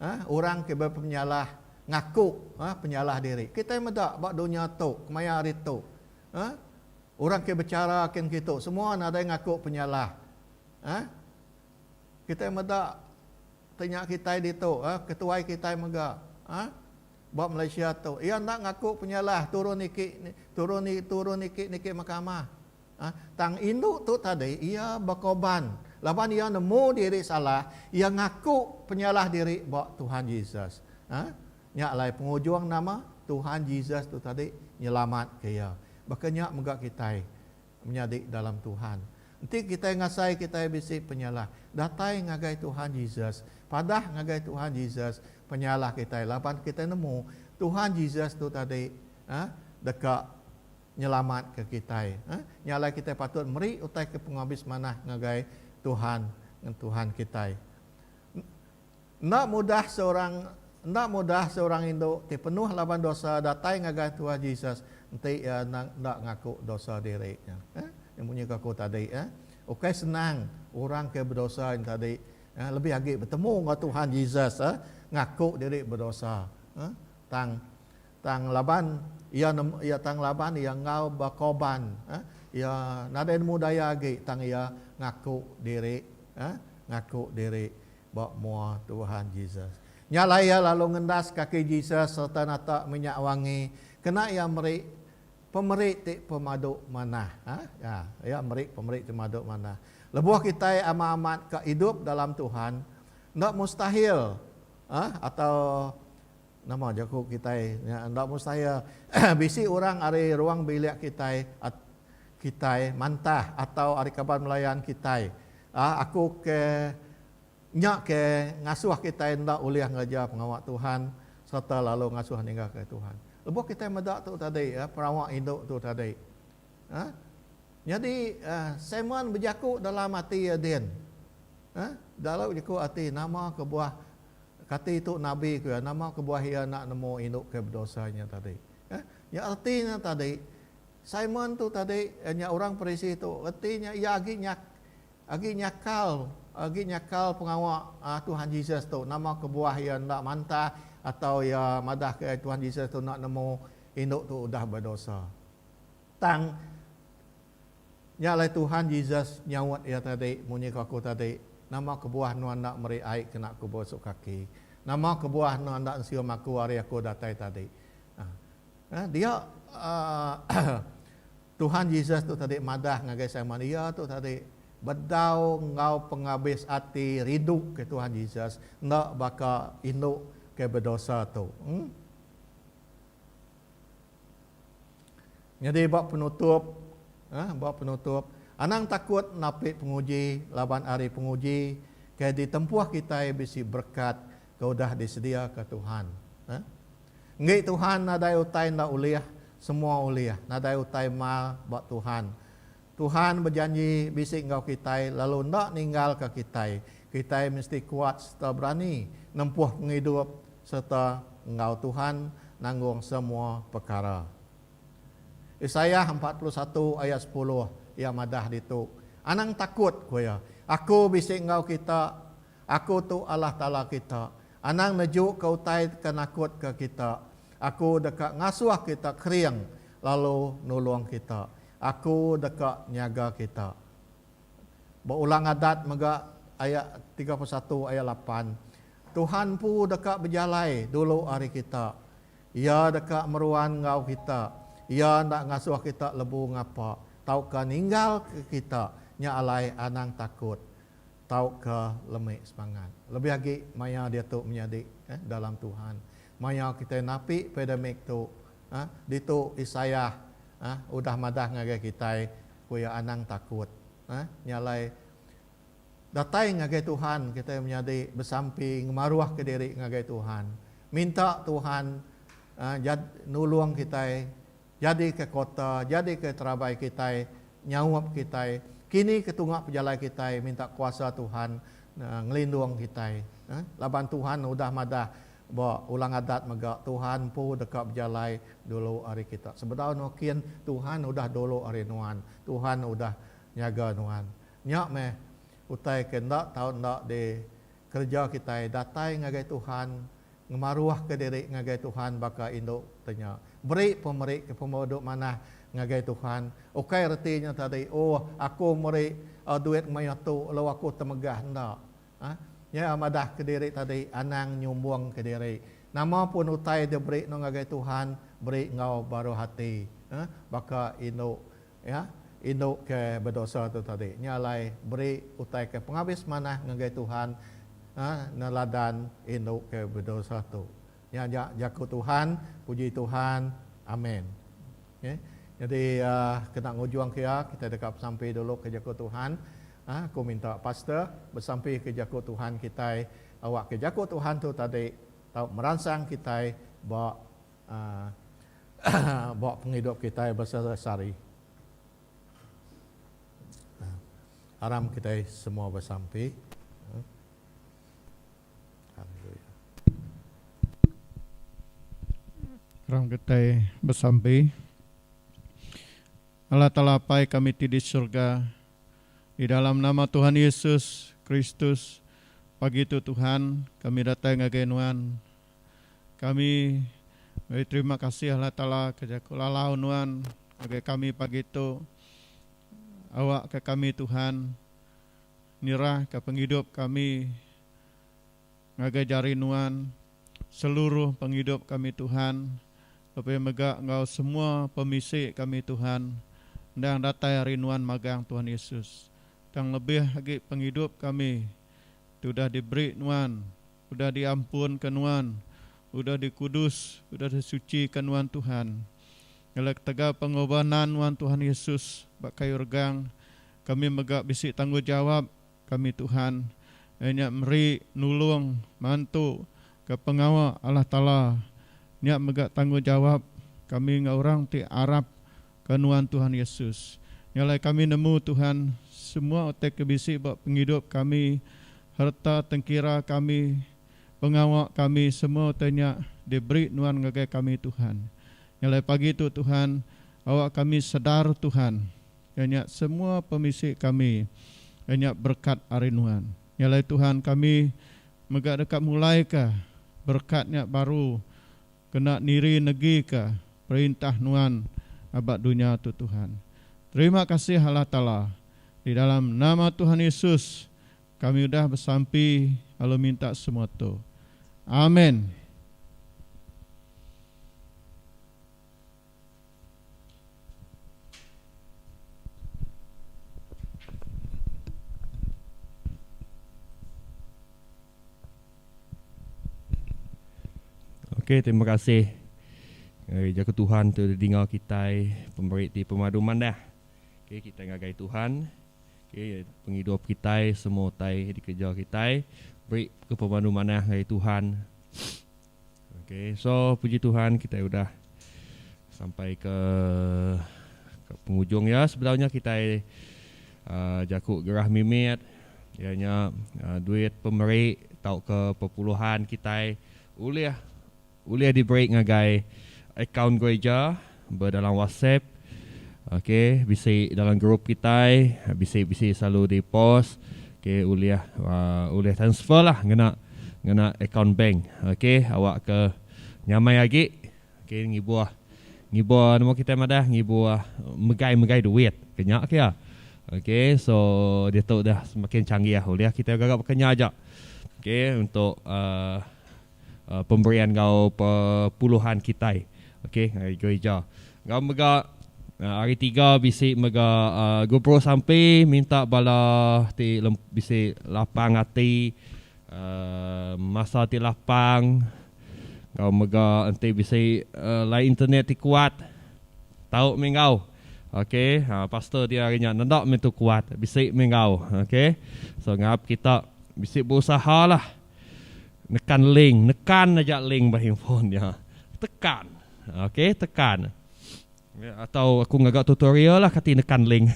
ah orang ke bepenyalah ngaku ah penyalah diri. Kitai meda ba dunya tu kemaya hari tu ah orang ke bechara kin ngitu semua nadai ngaku penyalah. Ah kitai meda. Ti nya kitai ditu eh ketuai kitai mega eh ba Malaysia tu iya enda ngaku penyalah turun niki turun ni turun niki niki mahkamah eh tang indu tu tadi iya bekoban laban iya nemu diri salah iya ngaku penyalah diri ba Tuhan Jesus eh nya alai pengujung nama Tuhan Jesus tu tadi nyelamat ke iya baka nya mega kitai Menyadi dalam Tuhan. Enti kitai ngasai kitai bisi penyalah, datai ngagai Tuhan Jesus, padah ngagai Tuhan Jesus penyalah kitai laban kitai nemu Tuhan Jesus tu tadi eh deka nyelamatka kitai. Eh, nya alai kitai patut meri utai ke pengabis manah ngagai Tuhan ngen Tuhan kitai. Enda mudah seorang Enda mudah seorang indu ti penuh laban dosa datai ngagai Tuah Jesus enti iya endang enda ngaku dosa diri nya. Heh, nya munyi ke aku tadi. Heh. Ukai senang orang ke bedosa nya tadi, heh, lebih agi betemu enggau Tuhan Jesus, heh, ngaku diri bedosa. Heh. Tang tang laban iya nemu iya tang laban iya enggau bekorban, heh, iya nadai nemu daya agi tang iya ngaku diri, heh, ngaku diri. ba mua Tuhan Jesus. Nya alai iya lalu ngendas kaki Jesus sereta nata minyak wangi kena iya meri pemeri ti pemadu manah. Ha, ya, iya meri pemeri ti madu manah. Lebuh kitai amat-amat ka idup dalam Tuhan, enda mustahil ha, atau Nama jaku kitai nya enda mustahil. Bisi orang ari ruang bilik kitai kitai mantah atau ari kaban belayan kitai aku ke nya ke ngasuh kitai enda ulih ngereja pengawa Tuhan sereta lalu ngasuh ninggalka Tuhan. Lebuh kitai meda tu tadi pengawa indu tu tadi nyadi Simon bejaku dalam ati iya din dalam jaku ati nama kebuah Kati tu nabi ku iya, nama kebuah iya enda nemu indu ke bedosa nya tadi? Heh, nya reti nya tadi, Simon tu tadi, eh, nya orang Parisi tu, reti nya iya agi nyak, agi nyakal, agi nyakal pengawa, ah, Tuhan Jesus tu. Nama kebuah iya enda mantah atau iya madah ke Tuhan Jesus tu enda nemu indu tu udah bedosa? Tang, Nya alai Tuhan Jesus nyaut iya tadi, Munyi ke aku tadi, Nama kebuah enda enda meri ai ke enda aku berosok kaki? Nama kebuah enda enda ensium aku ari aku datai tadi? Nah, dia Tuhan Jesus tu tadi madah ngagai Simon. Iya tu tadi bedau enggau pengabis ati rindu ke Tuhan Jesus enda baka indu ke bedosa tu. Em. Nyadi ba penutup, eh, ba penutup, anang takut napi penguji laban ari penguji ke ditempuh kitai bisi berekat ke udah disediaka Tuhan. Eh. Enggi Tuhan nadai utai enda ulih, semua ulih. Nadai utai mal ba Tuhan. Tuhan bejanji bisi enggau kitai lalu enda ninggalka kitai. Kitai mesti kuat sereta berani nempuh pengidup sereta enggau Tuhan nanggung semua pekara. Isaiah empat puluh satu ayat sepuluh, iya madah ditu, Anang takut, ku iya, Aku bisi enggau kita, Aku tu Allah Taala kita. Anang nejuka utai ke nakutka kita. Aku deka ngasuh kita kering lalu nulung kita. Aku deka nyaga kita. Ba Ulang Adat mega aya tiga puluh satu aya lapan, Tuhan empu deka bejalai dulu ari kita. Iya deka meruan enggau kita. Iya enda ngasuh kita lebu ngapa tauka ninggalka kita. Nya alai anang takut tauka lemi semangat. Lebih agi maya diatu menyadi dalam Tuhan. Maya kitai napi pandemic tu. Ditu Isaiah udah madah ngagai kitai, ku iya, Anang takut. Nya alai, datai ngagai Tuhan kitai menyadi besampi ngemaruhka diri ngagai Tuhan. Minta Tuhan nulung kitai jadika kota, jadika terabai kitai, nyaup kitai. Kini ke tunga pejalai kitai minta kuasa Tuhan ngelindung kitai. Laban Tuhan udah madah Ba Ulang Adat mega Tuhan empu deka bejalai dulu ari kita. Sebedau no kin Tuhan udah dulu ari nuan. Tuhan udah nyaga nuan. Nya meh utai ke enda tau enda di kereja kitai datai ngagai Tuhan ngemaruh ke diri ngagai Tuhan baka indu te nya. Beri pemeri ke pembo duk manah ngagai Tuhan ukai reti nya tadi oh aku meri duit mayuh tu lalu aku temegah enda. Nya madah kediri tadi anang nyumbung kediri. Nama pun utai diberi no ngagai Tuhan beri enggau baru hati baka indu indu ke bedosa tu tadi. Nya alai beri utai ke pengabis manah ngagai Tuhan neladan indu ke bedosa tu. Nya aja jaku Tuhan, puji Tuhan. Amen. Okay. Jadi kena ngujungka iya, kita deka besampi dulu ke jaku Tuhan. Ah, aku minta pastor besampi ke jaku Tuhan kitai awak ke jaku Tuhan tu tadi tau meransang kitai ba uh, ba penghidup kitai bersehari-hari. Aram kita semua bersampi. Orang kitai besampi, Allah Taala Apai kami ti di surga, di dalam nama Tuhan Yesus Kristus, pagi tu Tuhan, kami datai ngagai Nuan. Kami beri terima kasih Allah Taala ke jaku lalau Nuan ngagai kami pagi tu. Awakka kami Tuhan. Nirahka pengidup kami ngagai jari Nuan seluruh pengidup kami Tuhan, lebih mega enggau semua pemisi kami Tuhan endang datai ari Nuan magang Tuhan Yesus. Tang lebih agi pengidup kami ti udah diberi Nuan Udah diampunka nuan, udah dikudus, udah disucika nuan Tuhan. Ngelai ketegal pengobanan nuan Tuhan Yesus ba kayu regang, kami mega bisi tanggulgjawab kami Tuhan, iya nya meri nulung mantu ke pengawa Allah Taala. Nya mega tanggulgjawab kami enggau orang ti arap Ka nuan Tuhan Yesus. Nya alai kami nemu Tuhan semua utai ke bisi ba pengidup kami, harta tengkira kami, pengawa kami semua utai nya diberi nuan ngagai kami Tuhan. Nya alai pagi tu Tuhan awa kami sedar Tuhan iya nya semua pemisi kami iya nya berekat ari nuan. Nya alai Tuhan kami mega deka mulaika berekat nya baru. Kena niri negi ka perintah nuan aba dunya tu Tuhan. Terima kasih Allah Taala di dalam nama Tuhan Yesus kami udah besampi lalu minta semua tu. Amen. Okay, terima kasih. Ngagai jaku Tuhan tu dinga kitai pemeri ti pemadu manah. Okay, kita ngagai Tuhan. Okay, pengidup kitai semua utai dikeja kitai. Beri ke pemadu manah ngagai Tuhan. Ok so puji Tuhan kitai udah sampai ke ke pengujung ya sebedau nya kitai uh, jaku gerah mimit iya nya uh, duit pemeri tauka pepuluhan kitai ulih ulih diberi ngagai akaun gereja Bedalam WhatsApp ok bisi dalam group kitai bisi bisi selalu di post ok ulih ulih transfer lah ngena ngena account bank ok awak ke nyamai agi ok ngibuh ngibuh nama kitai madah ngibuh megai megai duit ke nya ke iya ok so ditu dah semakin canggih ulih kitai gaga baka nya aja ok untuk uhh. pemberian enggau puluhan kitai okay ari gerija. Enggau mega ari tiga bisi mega Gubru Sampi minta bala ti bisi lapang ati masa ti lapang enggau mega enti bisi line internet ti kuat tau mih enggau okay pastor dia hari nya nenda mih tu kuat bisi mih enggau okay so ngarap kita bisi beusahalah. Nekan link. Nekan aja link ba handphone nya. Tekan. Ok, tekan. Atau aku ngaga tutorial lah kati nekan link.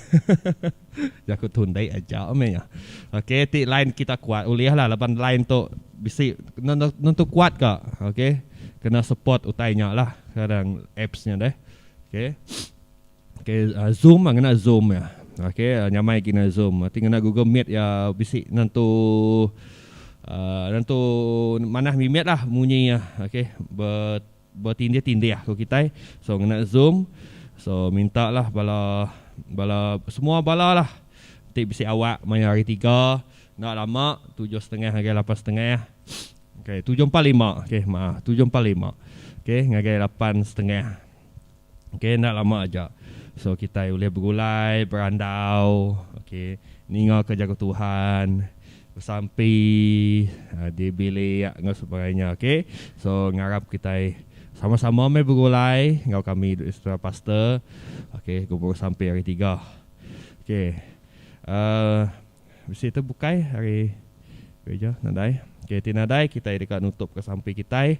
Jaku tu ndai aja meh nya. Ok, ti line kita kuat ulih lah laban line tu bisi nentu kuat ka. Ok. Kena support utai nya lah. Kadang apps nya deh. Ok. Okay, uh, Zoom ah ngena Zoom ya. Okay, uh, nyamai lagi ngena Zoom. Nanti ngena Google Meet ya bisi nentu uh, nentu manah mimet lah munyi ya. Okay, ber bertindih-tindih lah kalau kita. So ngena Zoom. So minta lah bala bala semua bala lah. Nanti bisi awak maya hari tiga. Nak lama tujuh setengah ngagai lapan setengah. Okay, tujuh empat lima. Okay, maaf. Tujuh empat lima. Okay, ngagai lapan setengah. Okay enda lama aja. So kitai ulih begulai, berandau, okay ninga ka jaku Tuhan, besampi di bilik enggau sebagainya okay. So ngarap kitai sama sama meh begulai enggau kami secara pastor okay gempuru sampi hari tiga. Okay uhh. Bisi tu bukai ari gereja nadai. Ke ti nadai kitai deka nutupka sampi kitai.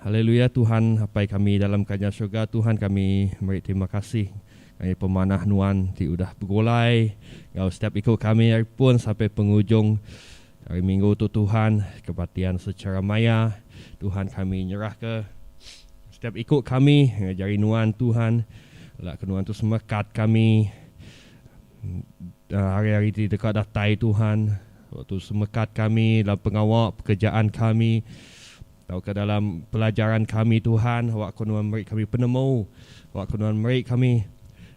Haleluya Tuhan Apai kami dalam Kerajaan Surga Tuhan kami meri terima kasih ngagai pemanah nuan ti udah begulai enggau setiap iku kami ari pun sampai pengujung Ari minggu tu Tuhan ke batian sechara maya, Tuhan kami nyerahka setiap iku kami enggau jari Nuan Tuhan, ela ke Nuan tu semekat kami hari-hari ti deka datai Tuhan, ela tu semekat kami dalam pengawa pekerjaan kami tauka dalam pelajaran kami Tuhan, awak ko Nuan meri kami penemu, awak ko Nuan meri kami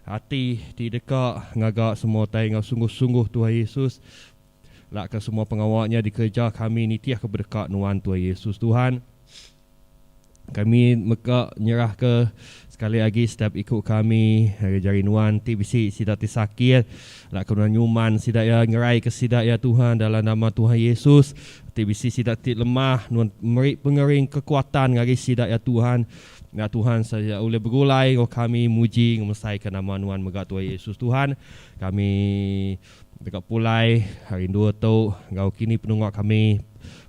ati ti deka ngaga semua utai enggau sungguh-sungguh Tuhan Yesus. Laka semua pengawa nya dikereja kami nitihka bedeka nuan Tuai Yesus Tuhan. Kami mega nyerahka sekali agi setiap iku kami ngagai jari nuan ti bisi sida ti sakit. Laka nuan nyuman sida iya, nyeraika sida iya Tuhan dalam nama Tuhan Yesus. Ti bisi sida ti lemah, nuan meri pengering kekuatan ngagai sida iya Tuhan. Enda Tuhan saja ulih begulai enggau kami muji ngemesaika nama nuan mega Tuai Yesus Tuhan. Kami Deka pulai ari endua tu enggau kini penungak kami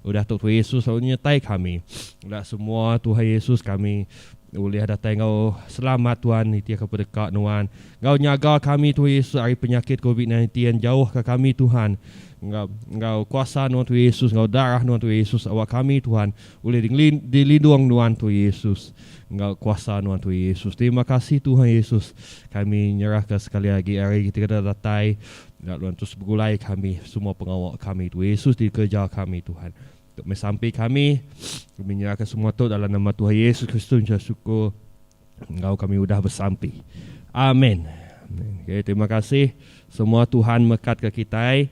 udah tu Tuhan Yesus lalu nyertai kami enda semua Tuhan Yesus kami ulih datai enggau selamat Tuhan nitihka pedeka nuan enggau nyaga kami Tuhan Yesus ari penyakit covid 19 jauhka kami Tuhan enggau enggau kuasa nuan Tuhan Yesus enggau darah nuan Tuhan Yesus awak kami Tuhan ulih dilindung nuan Tuhan Yesus. Enggau kuasa nuan Tuhan Yesus. Terima kasih Tuhan Yesus. Kami nyerah ka sekali agi hari ti kada datai. Enda nuan terus begulai kami semua pengawa kami Tuhan Yesus di kereja kami Tuhan. Tu meh sampi kami. Kami nyerah ka semua tu dalam nama Tuhan Yesus Kristus enggau syukur enggau kami udah besampi. Amen. Okay, terima kasih semua Tuhan mekat ka kitai.